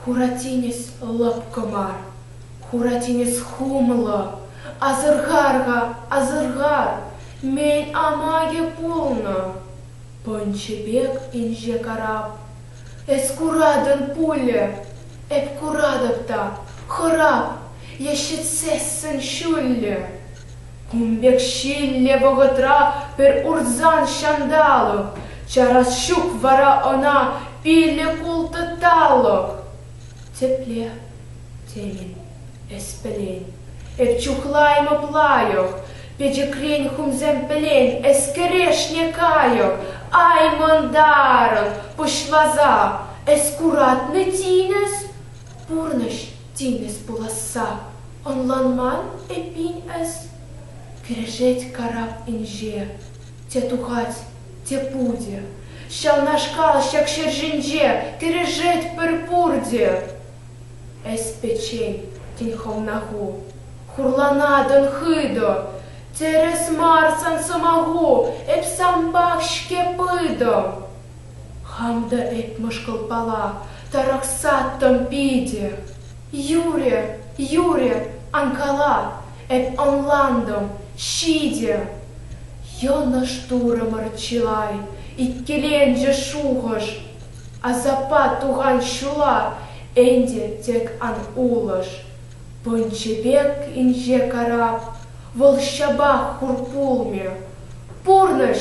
Хура тинӗс лӑпкӑ мар, хура тинӗс хумлӑ. Асӑрхар-ха, асӑрхар, мӗн амакӗ пулнӑ? Пӑнчӑ пек инҫе карап. Эс куратӑн пулӗ, эп куратӑп та, хӑрап, е ҫӗтсессӗн ҫуллӗ. Кун пек ҫиллӗ вӑхӑтра пӗр урсан ҫанталӑк, чарас ҫук вара ӑна пилӗк-ултӑ Тепле тейӗн эс пӗлен, эп чухлаймӑп лайӑх, печӗкрен хумсем пӗлен эс кӗрешне кайӑк. Ай, мӑнтарӑн, пуҫваза, эс куратнӑ тинӗс? пурнӑҫ тинӗс пуласса ӑнланман эппин эс? кӗрешет карап инҫе. Те тухать, те путӗ. Ҫавнашкал ҫак ҫӗр ҫинче кӗрешет пӗр пурте. Эс пӗччен, тен хӑвна ху. Хурланатӑн хытӑ. Тӗрӗс мар сан сӑмаху, эп санпах-ҫке пытӑм. Хам та эп мӑшкӑлпала тарӑхсаттӑм питӗ. Юрӗ, юрӗ, ан кала, эп ӑнлантӑм, ҫитӗ. Йӑнӑш турӑмӑр чылай, иккӗленчӗ шухӑш. Асаппа тухан ҫула ӗнтӗ тек ан улӑш. Пӑнчӑ пек инҫе карап, вӑл ҫапах хур пулмӗ. Пурнӑҫ